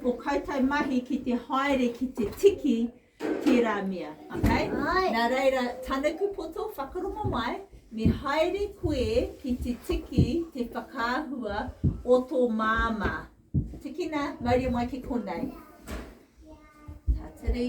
Ko koutou mahi ki te haere ki te tiki tērā mea. Okay? Nā reira, tanuku poto, whakarongo mai, me haere koe ki te tiki te whakaahua o tō māmā. Tikina, mauria mai ki konei. Tatari.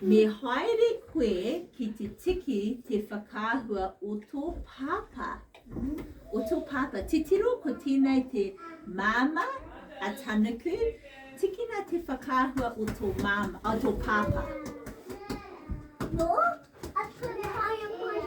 Me haere koe ki te tiki te whakaahua o tō pāpā. O tō pāpā. Titiro ko tēnei te māmā a Tanuku. Tikina te whakaahua o tō māmā, o tō pāpā. Nō, a Tūruhāia mai.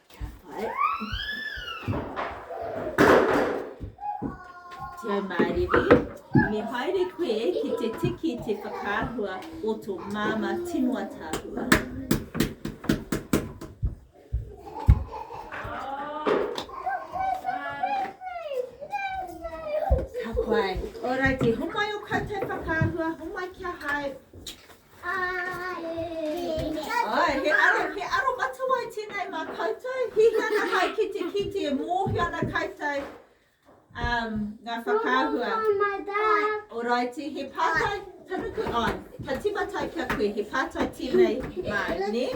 Ka pai. Tēnā māriri. Me haere koe ki te tiki te whakaahua o tō māma tinua tāhua. Ka pai. Alrighty, homai o koutou whakaahua, homai kia hae. Ae, he aro, he aro matawai tenei ma koutou, hihi ana hai ki te kite e mohio ana koutou um, nga whakaahua. Oraiti, he patai, tanuku, ai, ka timatai kia koe, he patai tenei ma, ne?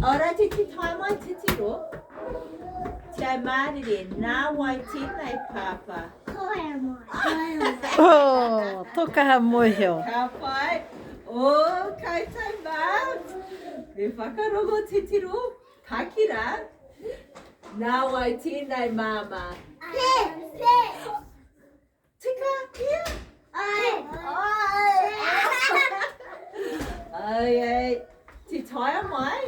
Orati te tae mai titiro. Te ai mārire, nā wai tēnei pāpā? Koe a moe. Koe a moe. Oh, tō kaha moeheo. Ka pai. O, koutou mā. Me whakarongo titiro. Pakira. Nā wai tēnei māmā? Pē, pē. Tika kia? Ae. Ae. Ae. Ti taia mai.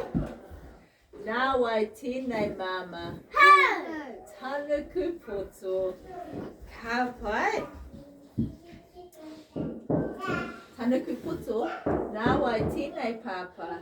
Nā wai tēnei māmā. Hau. Tanuku poto. Ka pai. Tanuku poto. Nā wai tēnei pāpā.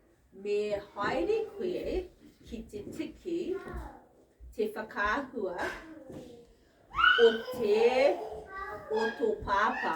Me haere koe ki te tiki te whakaahua o te o tō pāpā.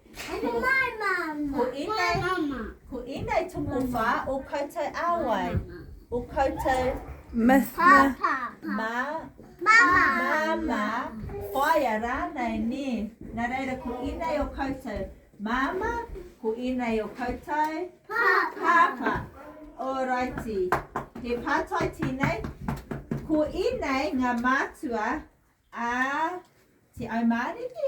Ko mai mama. Ko mai mama. Ko inei toko wha o koutou awai. O koutou. Myth. Papa. Ma. Mama. Mama. Whaia ranei ne. Na reira ko inei o koutou. Mama. Ko inei o koutou. Papa. Papa. Oraiti. He patai tenei. Ko inei nga matua a te aumāriki.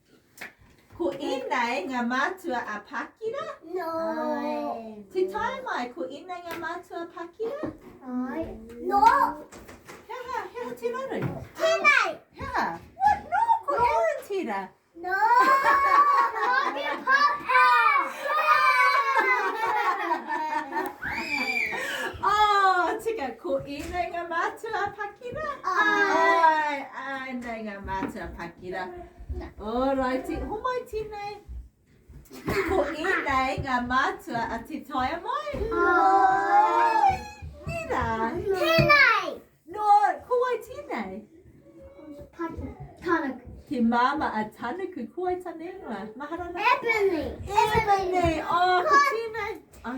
Ko inei nga matua a Pakira? No. Te tae mai, ko inei nga matua a Pakira? Ai. No. He aha, he aha te raru? Tenei. He aha? What? No, ko no. Aaron tira. No. Mami Papa. oh, tika, ko inei nga matua a Pakira? Ai. Ai, ai, nei nga matua a Pakira. Alrighty, homai tēnei. Ko ēnei ngā mātua a Te Taea Mai. Hai! Nina! Tēnei! No, ko wai tēnei? Patu. Tanuku. Te māma a Tanuku, ko wai tane ingoa? Maharana? Ebony! Ebony! Oh, ko tēnei! Oh.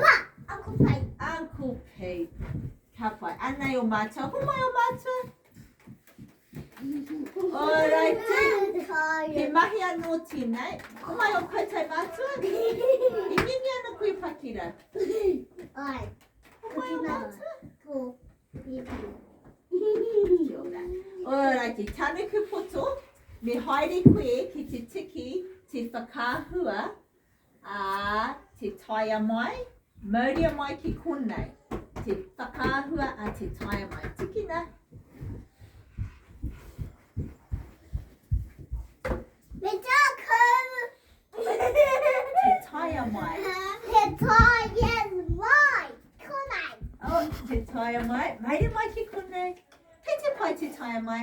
Ngā! Aku pei! Aku pei! Ka pai. Anei o mātua. Ko mai o mātua? Alrighty. He mahi anō tēnei. Ko mai o koutou mātua? I ngenge ana koe pakira? Ai. Ko mai o mātua? Ko. Kia ora. Alrighty. Tānuku poto. Me haere koe ki te tiki te whakaahua. Ā, te taea mai, mauria mai ki konei, te whakaahua a te taea mai. Tikina. Me tākou! Te taea mai. Te taea mai, konei. Oh, te taea mai, mauria mai ki konei. Kei te pai te taea mai.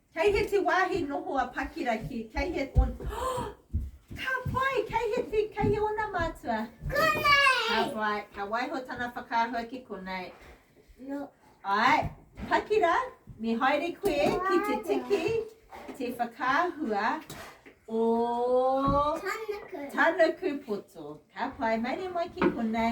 Kei heti wāhi noho a Pakira ki, kei he, on, Ka pai, kei heti, kei he ona mātua? Konei! Ka pai, ka waiho tana whakaahua ki konei. No. Ai, Pakira, me haere koe ki te tiki, te whakaahua o... Tanaku. Tanaku poto. Ka pai, maire mai ki konei.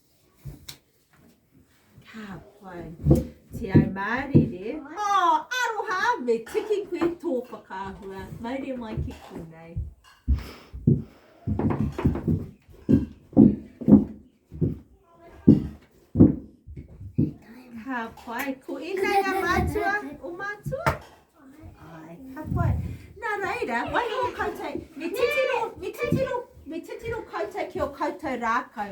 Ka pai. Te au mārire. Oh, aroha, me tiki koe tō whakaahua. Maire mai ki konei. Ka pai. Ko ēnei a mātua, o mātua? Ai, ka pai. Nā reira, wai o koutou, me titiro, me titiro, me titiro koutou ki o koutou rākau.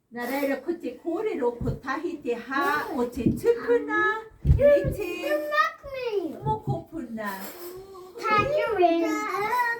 Nā reira ko te kōrero kotahi te hā o te tupuna me te mokopuna.